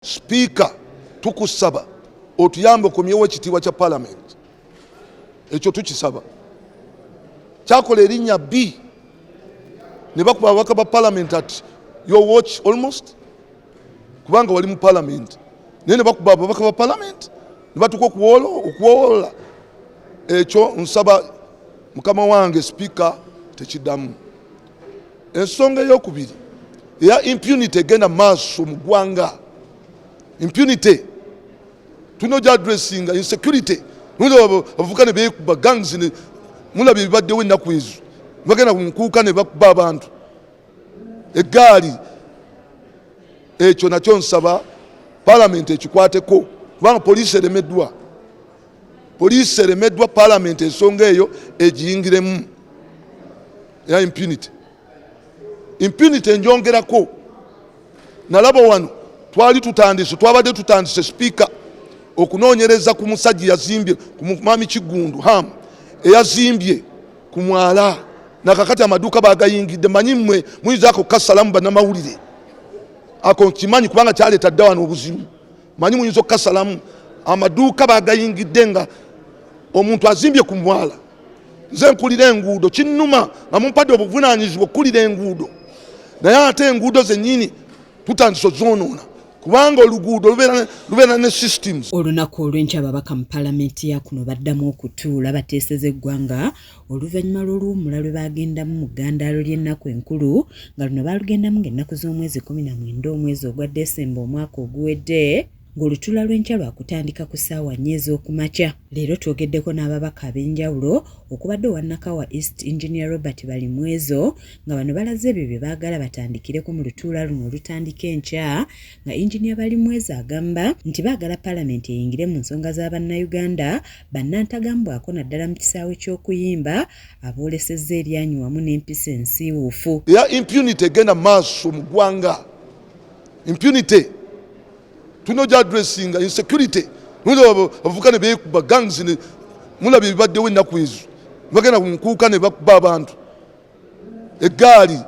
Sipiika, tukusaba otuyambe okomyewo ekitiibwa kya palamenti. Ekyo tukisaba. Kyakola erinnya bbi ne bakuba ababaka ba palamenti ati your watch almost kubanga wali mu palamenti naye ne bakuba ababaka ba palamenti ne batuuka okuwoola. Ekyo nsaba mukama wange sipiika tekiddamu. ensonga eyokubiri eya impunity egenda maaso mu ggwanga impunity tulina ogya addressinga insecurity abavuka ne beekuba gangs mulaba ebibaddewo ennaku ezo bagenda kunkuuka ne bakuba abantu eggaali ekyo nakyo nsaba palamenti ekikwateko kubanga poliisi eremeddwa Poliisi eremeddwa palamenti ensonga eyo egiyingiremu era impunity impunity enjongerako nalaba wano twali tutandise twabadde tutandise sipiika okunoonyereza ku musajja yazimbye ku mwami kiggundu ham eyazimbye ku mwala nakakati amaduuka bagayingidde manyi mwe muyinza ako kasalamu banamawulire ako nkimanyi kubanga kyaleeta dda wano obuzibu manyi muyinza okukasalamu amaduuka bagayingidde nga omuntu azimbye ku mwala nze nkulira enguudo kinnuma nga mumpadde obuvunanyizibwa okukulira enguudo naye ate enguudo zenyini tutandise ozonoona kubanga oluguudo lubeera ne systems olunaku olwenkya ababaka mu palamenti yakuno baddamu okutuula bateeseza eggwanga oluvannyuma lw'oluwummula lwe baagendamu mu ggandaalo ly'ennaku enkulu nga luno baalugendamu ng'ennaku z'omwezi kumi na mwenda omwezi ogwa desemba omwaka oguwedde ng'olutuula lw'enkya lwakutandika ku ssaawa nnya ez'okumakya leero twogeddeko n'ababaka ab'enjawulo okubadde owa nakawa east engineer robert balimwezo nga bano balaze ebyo bye baagala batandikireko mu lutuula luno olutandika enkya nga engineer balimwezo agamba nti baagala palamenti eyingire mu nsonga za bannayuganda bannantagambwako naddala mu kisaawe ky'okuyimba aboolesezza eryanyi wamu n'empisa ensiiwuufu ya impunity egenda maaso mu ggwanga impunity tulina ogya adressinga insecurity abavuka ne beekuba gangs mulaba ebibaddewo ennaku ezo bagenda ku nkuuka ne bakuba abantu eggaali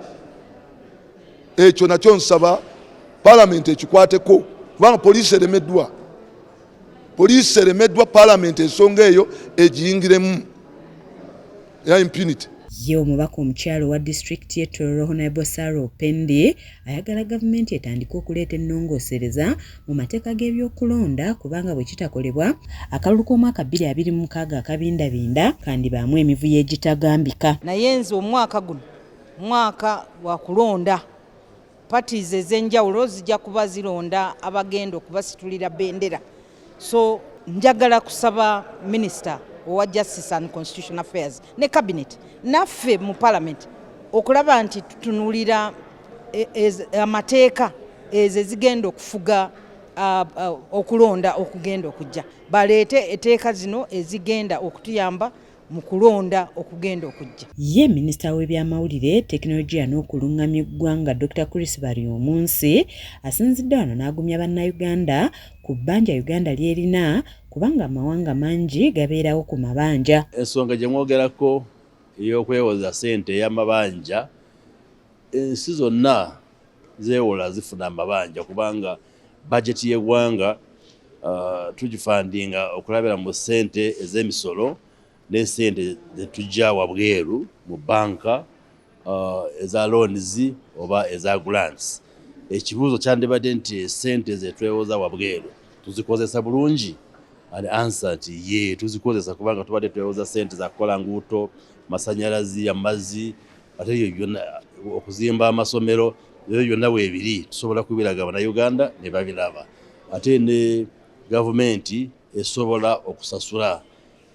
ekyo nakyo nsaba palamenti ekikwateko kubanga poliisi eremeddwa Poliisi eremeddwa palamenti ensonga eyo egiyingiremu ya impunity. Ye omubaka omukyalo wa disitulikiti ye Tororo Honorable Sarah Opendi ayagala gavumenti etandike okuleeta ennongoosereza mu mateeka g'ebyokulonda kubanga bwe kitakolebwa akalulu k'omwaka bbiri abiri mu mukaaga akabindabinda kandibaamu emivuyo egitagambika. Naye nze omwaka guno mwaka wa kulonda. Parties ez'enjawulo zijja kuba zironda abagenda okubasitulira bendera so njagala kusaba minisita owa justice and constitution affairs ne cabinet naffe mu parliament okulaba nti tutunulira e, amateeka ezo ezigenda okufuga okulonda okugenda okujja baleete eteeka zino ezigenda okutuyamba mu kulonda okugenda okujja. Ye minisita w'ebyamawulire tekinologiya n'okulungamya eggwanga Dr Chris Baryomunsi asinzidde wano n'agumya bannayuganda ku bbanja Uganda ly'erina kubanga amawanga mangi gabeerawo ku mabanja. Ensonga gye mwogerako ey'okwewoza ssente ey'amabanja ensi zonna zeewola zifuna amabanja kubanga bajeti y'eggwanga uh, tugifandinga okulabira mu ssente ez'emisolo n'essente zetujja wabweru mu banka uh, eza loans oba eza grants ekibuuzo kyandibadde nti esente zetwewoza wabweru tuzikozesa bulungi an ansa nti ye tuzikozesa kubanga tubadde twewoza sente zakukola nguuto masanyalazi amazzi ate ebyo byonna okuzimba amasomero ebyo byonna weebiri tusobola kubiraga bannayuganda ne babiraba ate ne gavumenti esobola okusasula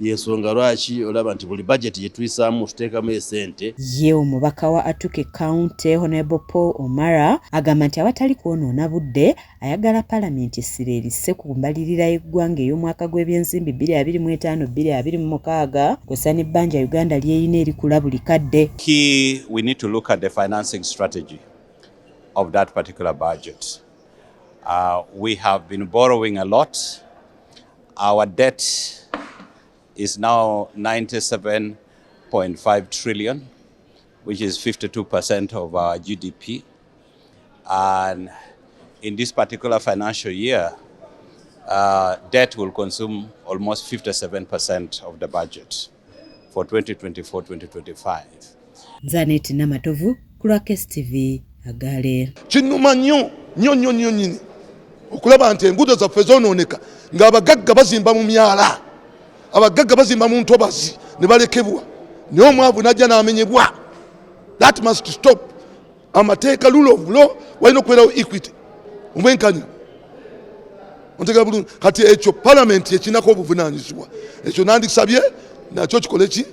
yensonga lwaki olaba nti buli bajeti gyetuyisaamu tuteekamu esente ye omubaka wa atuke county honable paul omara agamba nti awatali kwonoona budde ayagala palamenti essira erisse ku mbalirira y'eggwanga ey'omwaka gw'ebyensimbi 2025-2026 kw'ossa n'ebbanja Uganda ly'erina erikula buli kadde. Key, we need to look at the financing strategy of that particular budget. Uh, we have been borrowing a lot. Our debt is now 97.5 trillion. which is 52% of our GDP. And in this particular financial year, uh, debt will consume almost 57% of the budget for 2024-2025. Zanet Namatovu, Kurakes TV, Agale. Kinuma nyo, nyo nyo nyo nyini. Okulaba nti engudo za fezo ononeka. Nga abagagga bazimba mu myala. abagagga bazimba mu ntobazi ne balekebwa naye omwavu najja n'amenyebwa that must stop amateeka rule of law walina okubeerawo equity omwenkanya ontegera bulungi kati ekyo palamenti ekirinako obuvunanyizibwa ekyo nandisabye nakyo kikole ki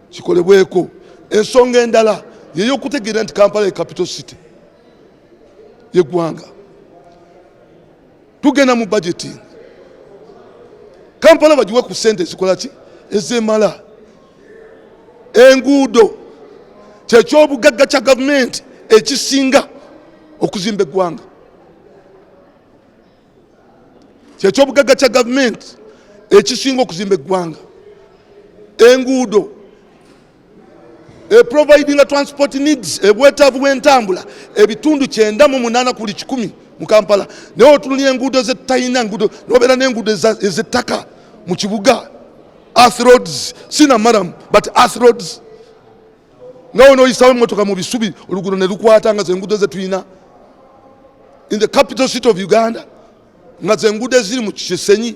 kikolebweko ensonga endala yeyokutegeera nti kampala ye capital city yeggwanga tugenda mu budgeting kampala bagiwe ku sente ezikola ki ezemala enguudo kyekyobugagga kya gavumenti ekisinga okuzimba eggwanga kyekyobugagga kya gavumenti ekisinga okuzimba eggwanga enguudo eprovidinga transport needs ebwetaavu bwentambula ebitundu kyenda mu munaana kuli kikumi mu kampala naye otunulira enguudo zetalina ngudo nobeera nenguudo ezettaka mu kibuga earth roads sina maram but earth roads nga wona oyisawo emotoka mu bisubi olugudo ne lukwata nga zenguudo zetulina in the capital city of uganda nga zenguudo eziri mu kisenyi